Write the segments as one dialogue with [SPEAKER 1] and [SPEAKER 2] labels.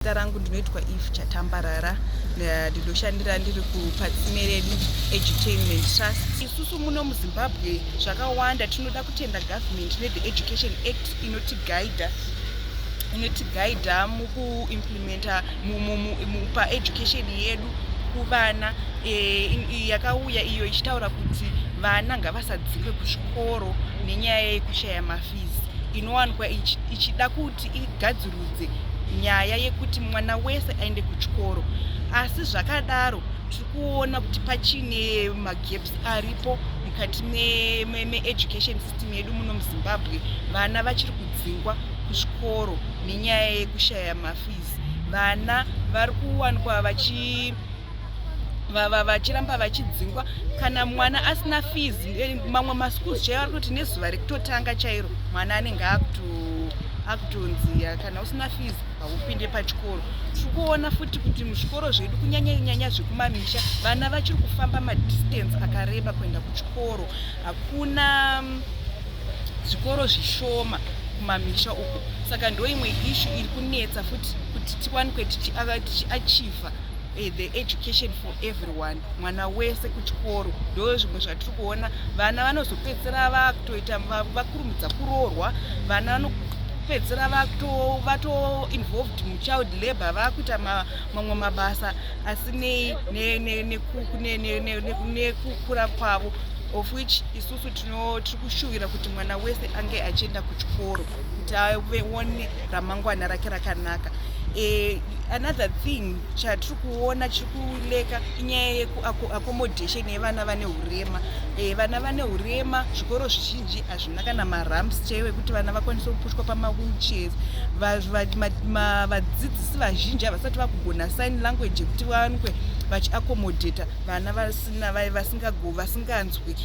[SPEAKER 1] Zita rangu ndinoitwa Eve Chatambarara eh, ndinoshandira ndiri kuPatsimereni Edutainment Trust. Isusu muno muZimbabwe zvakawanda tinoda kutenda government neThe Education Act inotigaidha inotigaidha mukuimplementa paeducation yedu kuvana eh, yakauya iyo ichitaura kuti vana ngavasadzingwe kuzvikoro nenyaya yekushaya mafizi inowanikwa ichida kuti igadzirwe tivaudze nyaya yekuti mwana wese aende kuchikoro asi zvakadaro tiri kuona kuti pachine magaps aripo mukati meeducation me, me system yedu muno muzimbabwe vana vachiri kudzingwa kuzvikoro nenyaya yekushaya mafees vana vari kuwanikwa vachi vachiramba vachidzingwa kana mwana asina fees eh, mamwe maschools chaivo ari kuti nezuva rekutotanga chairo mwana anenge akutonziya kana usina fees haupinde pachikoro tiri kuona futi kuti muzvikoro zvedu kunyanyanyanya zvekumamisha vana vachiri kufamba madistance akareba kuenda kuchikoro hakuna mm, zvikoro zvishoma kumamisha uko saka ndoimwe ishu iri kunetsa futi kuti tiwanikwe tichiachiva Eh, the education for everyone mwana wese kuchikoro ndo zvimwe zvatiri kuona vana vanozopedzisira vakutoita vakurumidza kuroorwa vana vanopedzisira vatoinvolved muchild labor vakuita mamwe mabasa asi nei nekukura kwavo of which isusu tiri kushuvira kuti mwana wese ange achienda kuchikoro kuti aone ramangwana rake rakanaka e, another thing chatiri kuona chiri kuleka inyaya yeaccommodation yevana vane urema e, vana vane urema zvikoro zvizhinji hazvina kana maramps chaivo ekuti vana vakwanise kupushwa pamawheelchairs vadzidzisi vazhinji havasati vakugona sign language yekuti vanwe vachiaccommodata vana vasina vasinganzwi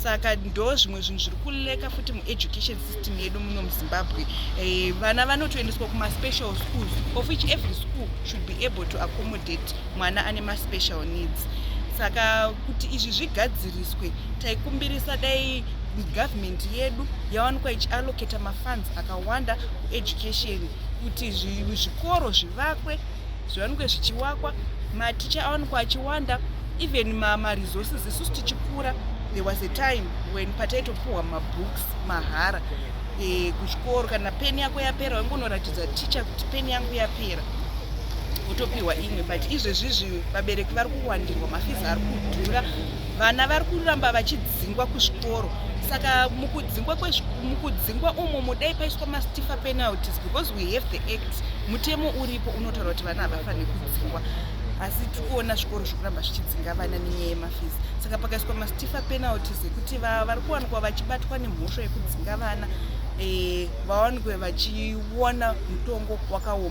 [SPEAKER 1] saka ndo zvimwe zvinhu zviri kuleka futi mueducation system medu muno muzimbabwe eh, vana eh, vanotoendeswa kumaspecial schools of which every school should be able to accommodate mwana ane maspecial needs saka kuti izvi zvigadziriswe taikumbirisa dai government yedu yawanikwa ichiallocata mafunds akawanda kueducation kuti zvikoro zvivakwe zviwanikwe zvichiwakwa maticha awanikwa achiwanda even maresources isusu tichikura there was a time when pataitopuhwa mabooks mahara e, kuchikoro kana peni yako yapera waingonoratidza ticha kuti peni yangu yapera wotopiwa imwe but izvezvizvi vabereki vari kuwandirwa mafizi ari kudhura vana vari kuramba vachidzingwa kuzvikoro saka mukudzingwa mukudzingwa umo mudai paiswa mastifa penalties because we have the act mutemo uripo unotaura kuti vana havafanire kudzingwa asi tikuona zvikoro zvekuramba zvichidzinga vana nenyaya yemafizi saka pakaiswa mastifa Tifa penalties yekuti vari kuwanikwa vachibatwa nemhosva yekudzinga vana eh, vawanikwe vachiona mutongo wakaoma.